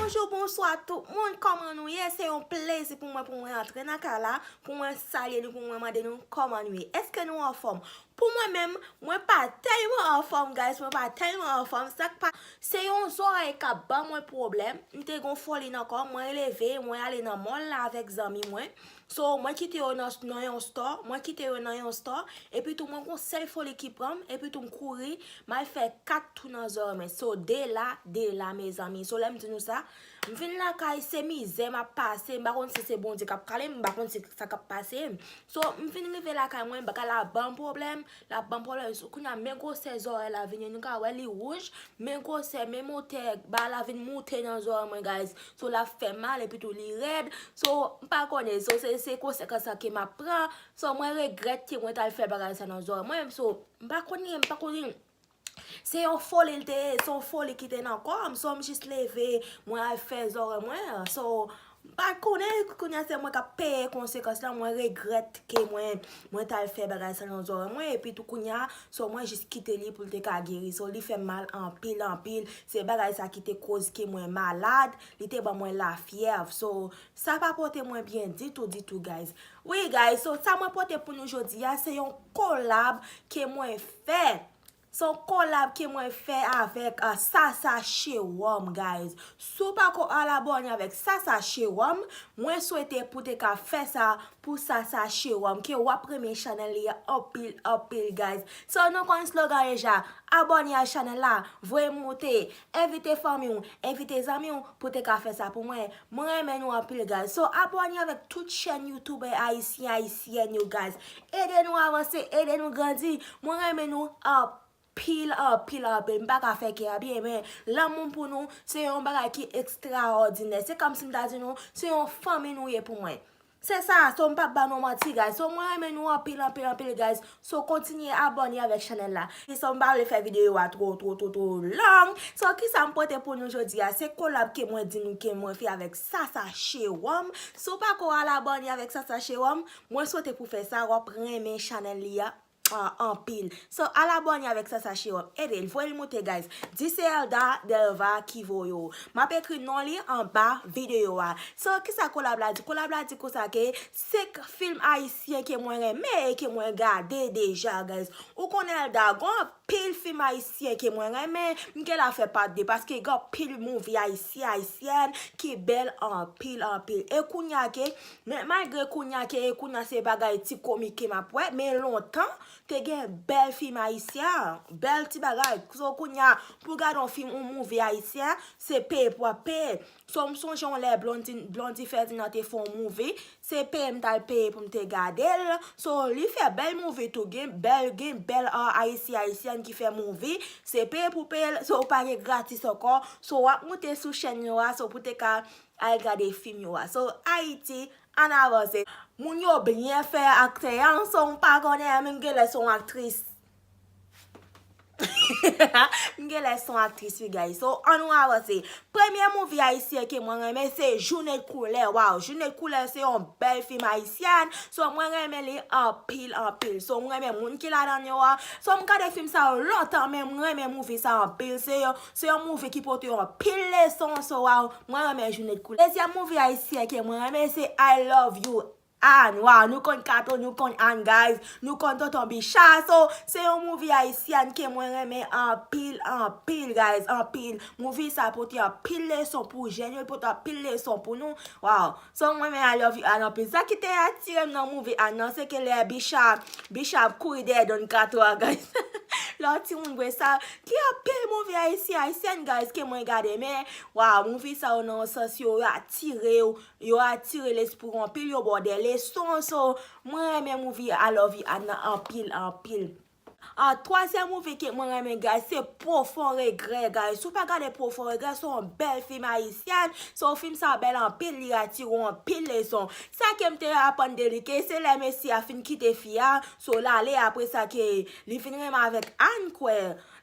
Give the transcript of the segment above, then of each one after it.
Bonjou bonswa tout moun kòman nou ye se yon plezi pou mwen pou mwen antre nan kay la pou mwen salye nou pou mwen mande nou kòman nou ye eske nou anfòm pou mwen menm mwen pa tèlman anfòm guys mwen pa tèlman anfòm sak pa se yon zòrèy kap ban mwen pwoblèm m te gon foli nan kò mwen leve mwen ale nan mòl la avèk zanmi mwen So, mwen kite yo nan nan yon store, mwen kite yo nan yon store, epi tou mwen gon sèl foli ki pran m, epi tou m kouri, m al fè 4 tou nan zòrèy mwen. So, 2 la, 2 la mezanmi. So, lè m di nou sa, m vin lakay, se mizè m ap pase, m pa konn si se Bondye k ap kale m, m pa konn si sa k ap pase m. So, m fin rive lakay mwen, bagay la ban m pwoblèm. Lap banm pwoblem sou kounya men gwosè zòrèy la vini nou ka wè li wouj men gwosè men motè bal la vin moute nan zòrèy mwen guys so lap fè mal epi tou li rèd so mpa konnen so se konsekans sa ke map pran so mwen regrèt ke mwen tal fè bagay sa nan zòrèy mwen so mpa konnen mpa konnen. Se yon foli l te ye, se yon foli ki te nan kò m, so m jis leve, mwen al fè zòrèy mwen, so m pa konnen, kounye a se mwen k ap peye konsekans lan, mwen regrèt ke mwen t al fè bagay sa nan zòrèy mwen, epi tou kounye a, so mwen jis kite li pou l te ka geri, so li fè m mal anpil anpil, se bagay sa ki te koz ke mwen malad, li te ban mwen lafyèv, so sa pa pote mwen byen ditou ditou guys. Wi guys so sa mwen pote pou nou jodi a se yon kolab ke mwen fè Se yon kolab ke mwen fè avèk Sasa Cheròm guys Si w pako al abòne avèk Sasa Cheròm mwen swete pou te ka fè sa pou Sasa Cheròm ke w ap renmen chanèl li a anpil anpil guys So nou konn slogan deja abòne ak chanèl la voye m moute Envite fanmi w, envite zanmi w pou te ka fè sa pou mwen, mwen renmen nou anpil guys, so abòne avèk tout chèn youtubè ayisyen ayisyèn yo guys, ede nou avanse, ede nou grandi, mwen renmen nou anpil anpil anpil, m pa ka fè kè a byen men lanmou m pou nou se yon bagay ki ekstraòdinè, se kòm si m ta di nou se yon fanmi nou ye pou mwen. Se sa, so m pap ba nou manti guys, so mwen renmen nou anpil anpil anpil guys, so kontinye abòne avèk chanèl la, so m pa vle fè videyo a two two two two long, so kisa m pote pou nou jodi a, se kolab ke mwen di nou ke mwen fè avèk Sasa Cheròm, so w pako al abòne avèk Sasa Cheròm, mwen swete pou fè sa, wap renmen chanèl li a. anpil so al abòne avèk sasa chewòp edel voyel moute guys di se Elda Delva ki voye w map ekri non li anba video a so kisa kolab la di kolab la di konsa ke 5 film ayisyen ke mwen renmen e ke mwen gade deja guys ou konnen Elda gon anpil film ayisyen ke mwen renmen m gen la fè part 2 paske gen anpil movie ayisyen ayisyèn ki bèl anpil anpil e kounya ke Men malgre kounya ke e kounya se bagay ti komike map wè men lontan te gen bèl fim ayisyen bèl ti bagay so kounya pou gade yon fim yon movie ayisyen se peye pou wap peye so m sonje yon lè Blondy Ferdinand te fè yon movie se peye m tal peye pou m te gade l so li fè bèl movie tou gen bèl gen bèl ayisyen ayisyen ki fè movie se peye pou peye l so pa gen gratis ankò so wap moute sou chèn yo a so pou te ka Al gade fim yo a so ayiti an avanse. Moun yo byen fè aktè ya an son ou pa konnen an menm genlè son aktris menm genlè son aktris wi guys so an nou avanse premye movie ayisyen ke mwen renmen se jounen koulè waw jounen koulè se yon bèl fim ayisyen so mwen renmen li anpil anpil so mwen renmen moun ki ladan yo a so m gade fim sa yo lontan men mwen renmen movie sa anpil se yon Se yon movie ki pote yon pil leson so waw mwen renmen joune t koulè. Dezyèm movie ayisyen ke mwen renmen se I love you Anne waw nou konn kato nou konn Anne guys nou konn tonton bicha so se yon movie ayisyen ke mwen renmen anpil anpil guys anpil movie sa pote anpil leson pou jèn yo l pote anpil leson pou nou waw. Sa m renmen I love you Ann anpil. Sa ki te atirem nan movie Ann nan se ke lè Bicha Bicha ap kouri dèyè Don kato a guys lè yon timoun vre sa gen anpil movie ayisyen ayisyèn guys ke mwen gade men waw movie sa yo nan yon sans yo atirew yo atire lespri w anpil yo ba w dè leson so mwen renmen movie I love you Ann nan anpil anpil. Ahh twazyèm movie ke mwen renmen gad se profond regret guys si w pa gade profond regret se yon bèl film ayisyen so film sa bèl anpil li atire w anpil leson sa kem te aprann de li ke se lè mesye a fin kite fi a so l ale apre sa ke li fin renmen avèk Anne kwè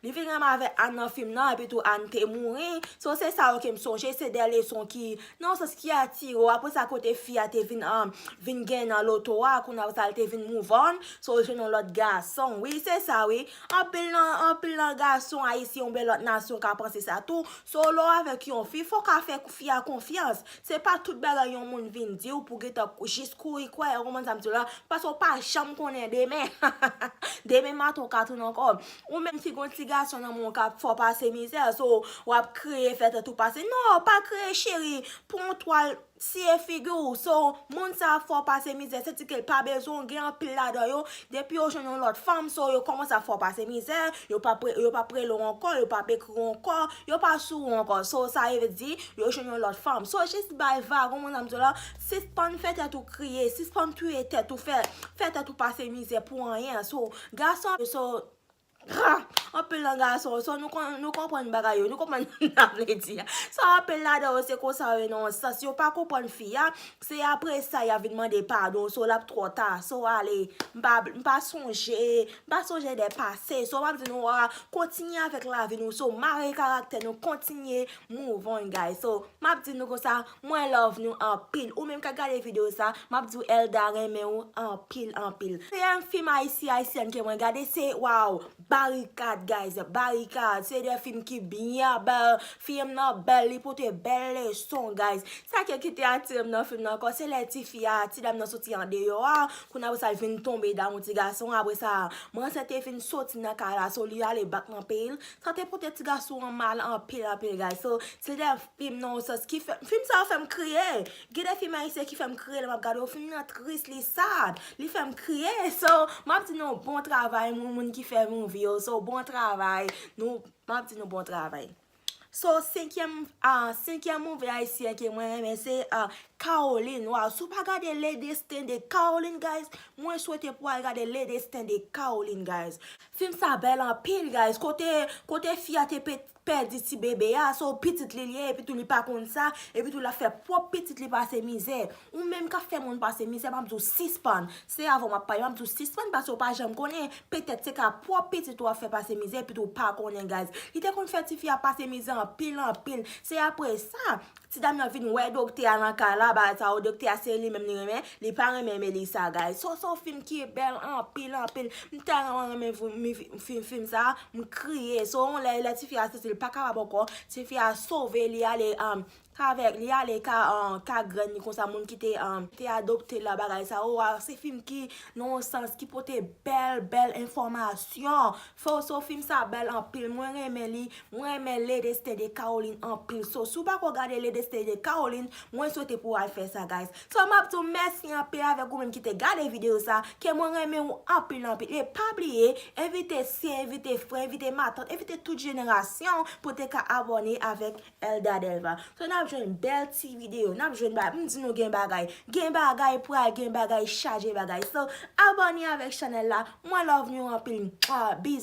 li fin renmen avèk Anne nan film nan epi tou Anne te mouri so se sa yo kem sonje se de leson ki Nan yon sans ki atire w apre sa kote fi a te vin vin gen nan loto a kounye apre sa li te vin move on so l jwenn yon lòt gason wi se sa wi anpil nan anpil nan gason ayisyen oubyen lòt nasyon ka panse sa tou so lè w avèk yon fi fò w ka fè fi a konfyans se pa tout bagay yon moun vin di w pou w gentan jis kouri kwè ou konprann sa m di w la paske w pa janm konnen demen demen maton w ka tounen ankò Ou menm ki gon ti gason nan menw kap fè w pase mizè so wap kriye fè tèt ou pase non pa kriye cheri pran yon twal siye figi w so moun sa ap fè w pase mizè se ti kel pa bezwen w gen anpil ladan yo depi yo jwenn yon lòt fanm so yo kòmanse ap fè w pase mizè yo pap rele w ankò yo pap ekri w ankò yo pa sou ou ankò so sa vle di yo jwenn yon lòt fanm so jis bay vagon moun sa m di w la sispann fè tèt ou kriye sispann touye tèt ou fè tèt ou pase mizè pou anyen so Gason yo so Haa anpil nan gason yo so nou konn nou konprann bagay yo nou konprann sa n ap vle di a so anpil ladan yo se konsa yo ye nan yon sans yo pa konprann fi a se apre sa y ap vin mande padon so l ap twò ta so ale m pa bli m pa sonje m pa sonje de pase so m ap di nou a kontinye avèk lavi nou so mare karaktè nou kontinye move on guys so m ap di nou konsa. Mwen love nou anpil ou menm kap gade video sa map diw Elda renmen ou anpil anpil. Premye film ayisyen ayisyenn ke mwen gade se waw barikad guys barikad se de film ki byen bèl film nan bèl li pote bèl leson guys sa ke kite atirem nan film nan ankò se lè ti fi a ti dam nan soti andeyò a kounye apre sa li vin tonbe damou ti gason an apre sa manzè te vin soti nan kay la so li ale bak nan peyil sa te pote ti gason an mal anpil anpil guys so se de Film nan yon sans ki fèm, film sa yo fèm kriye, gen de film ayisyen ki fèm kriye lè map gade yo, film nan tris, li sad, li fèm kriye, so map di nou bon travay moun moun ki fè movie yo, so bon travay, nou map di nou bon travay. So senkyèm a, senkyèm movie ayisyen ke mwen renmen se a Caroline, waw si w pa gade le destin de Caroline guys, mwen swete pou al gade le destin de Caroline guys. Film sa bèl anpil guys, kote, kote fi a te pete. pèdi ti bebe a, se yon pitit li li ye epitou li pa konn sa, epitou lap fè pwòp pitit li pase mizè. Ou menm kap fè moun pase mizè map di w sispann, se avè w map pale, map di w sispann pase w pa janm konnen, petèt se ka pwòp pitit ou wap fè pase mizè epitou w pa konnen guys. Li te konn fè tifi a pase mizè anpil anpil, se aprè sa Ti dam nan vin wè doktè a nan kay la bagay sa yo doktè a se li menm li renmen li pa renmen Melissa guys so son film ki bèl anpil anpil m tèlman renmen film sa m kriye so yon lè lè tifi a santi l pa kapab ankò tifi a sove li ale avèk li ale ka grann ni konsa moun ki te adopte l la bagay sa yo se film ki nan yon sans ki pote bèl bèl enfòmasyon Soso fim sa bèl anpil mwen renmen li mwen renmen le destin de Caroline anpil so si w pako gade le destin de Caroline mwen swete pou w al fè sa guys so map di w mèsi anpil avèk ou menm ki te gade video sa ke mwen renmen ou anpil anpil e pa bliye envite sye envite frè envite matant envite tout jenerasyon pou te ka abòne avèk Elda Delva. So nap jwenn bèl ti video, nap jwenn bagay, m di nou gen bagay, gen bagay pral gen bagay chaje bagay so abone avèk chanèl la mwen love nou anpil bizz.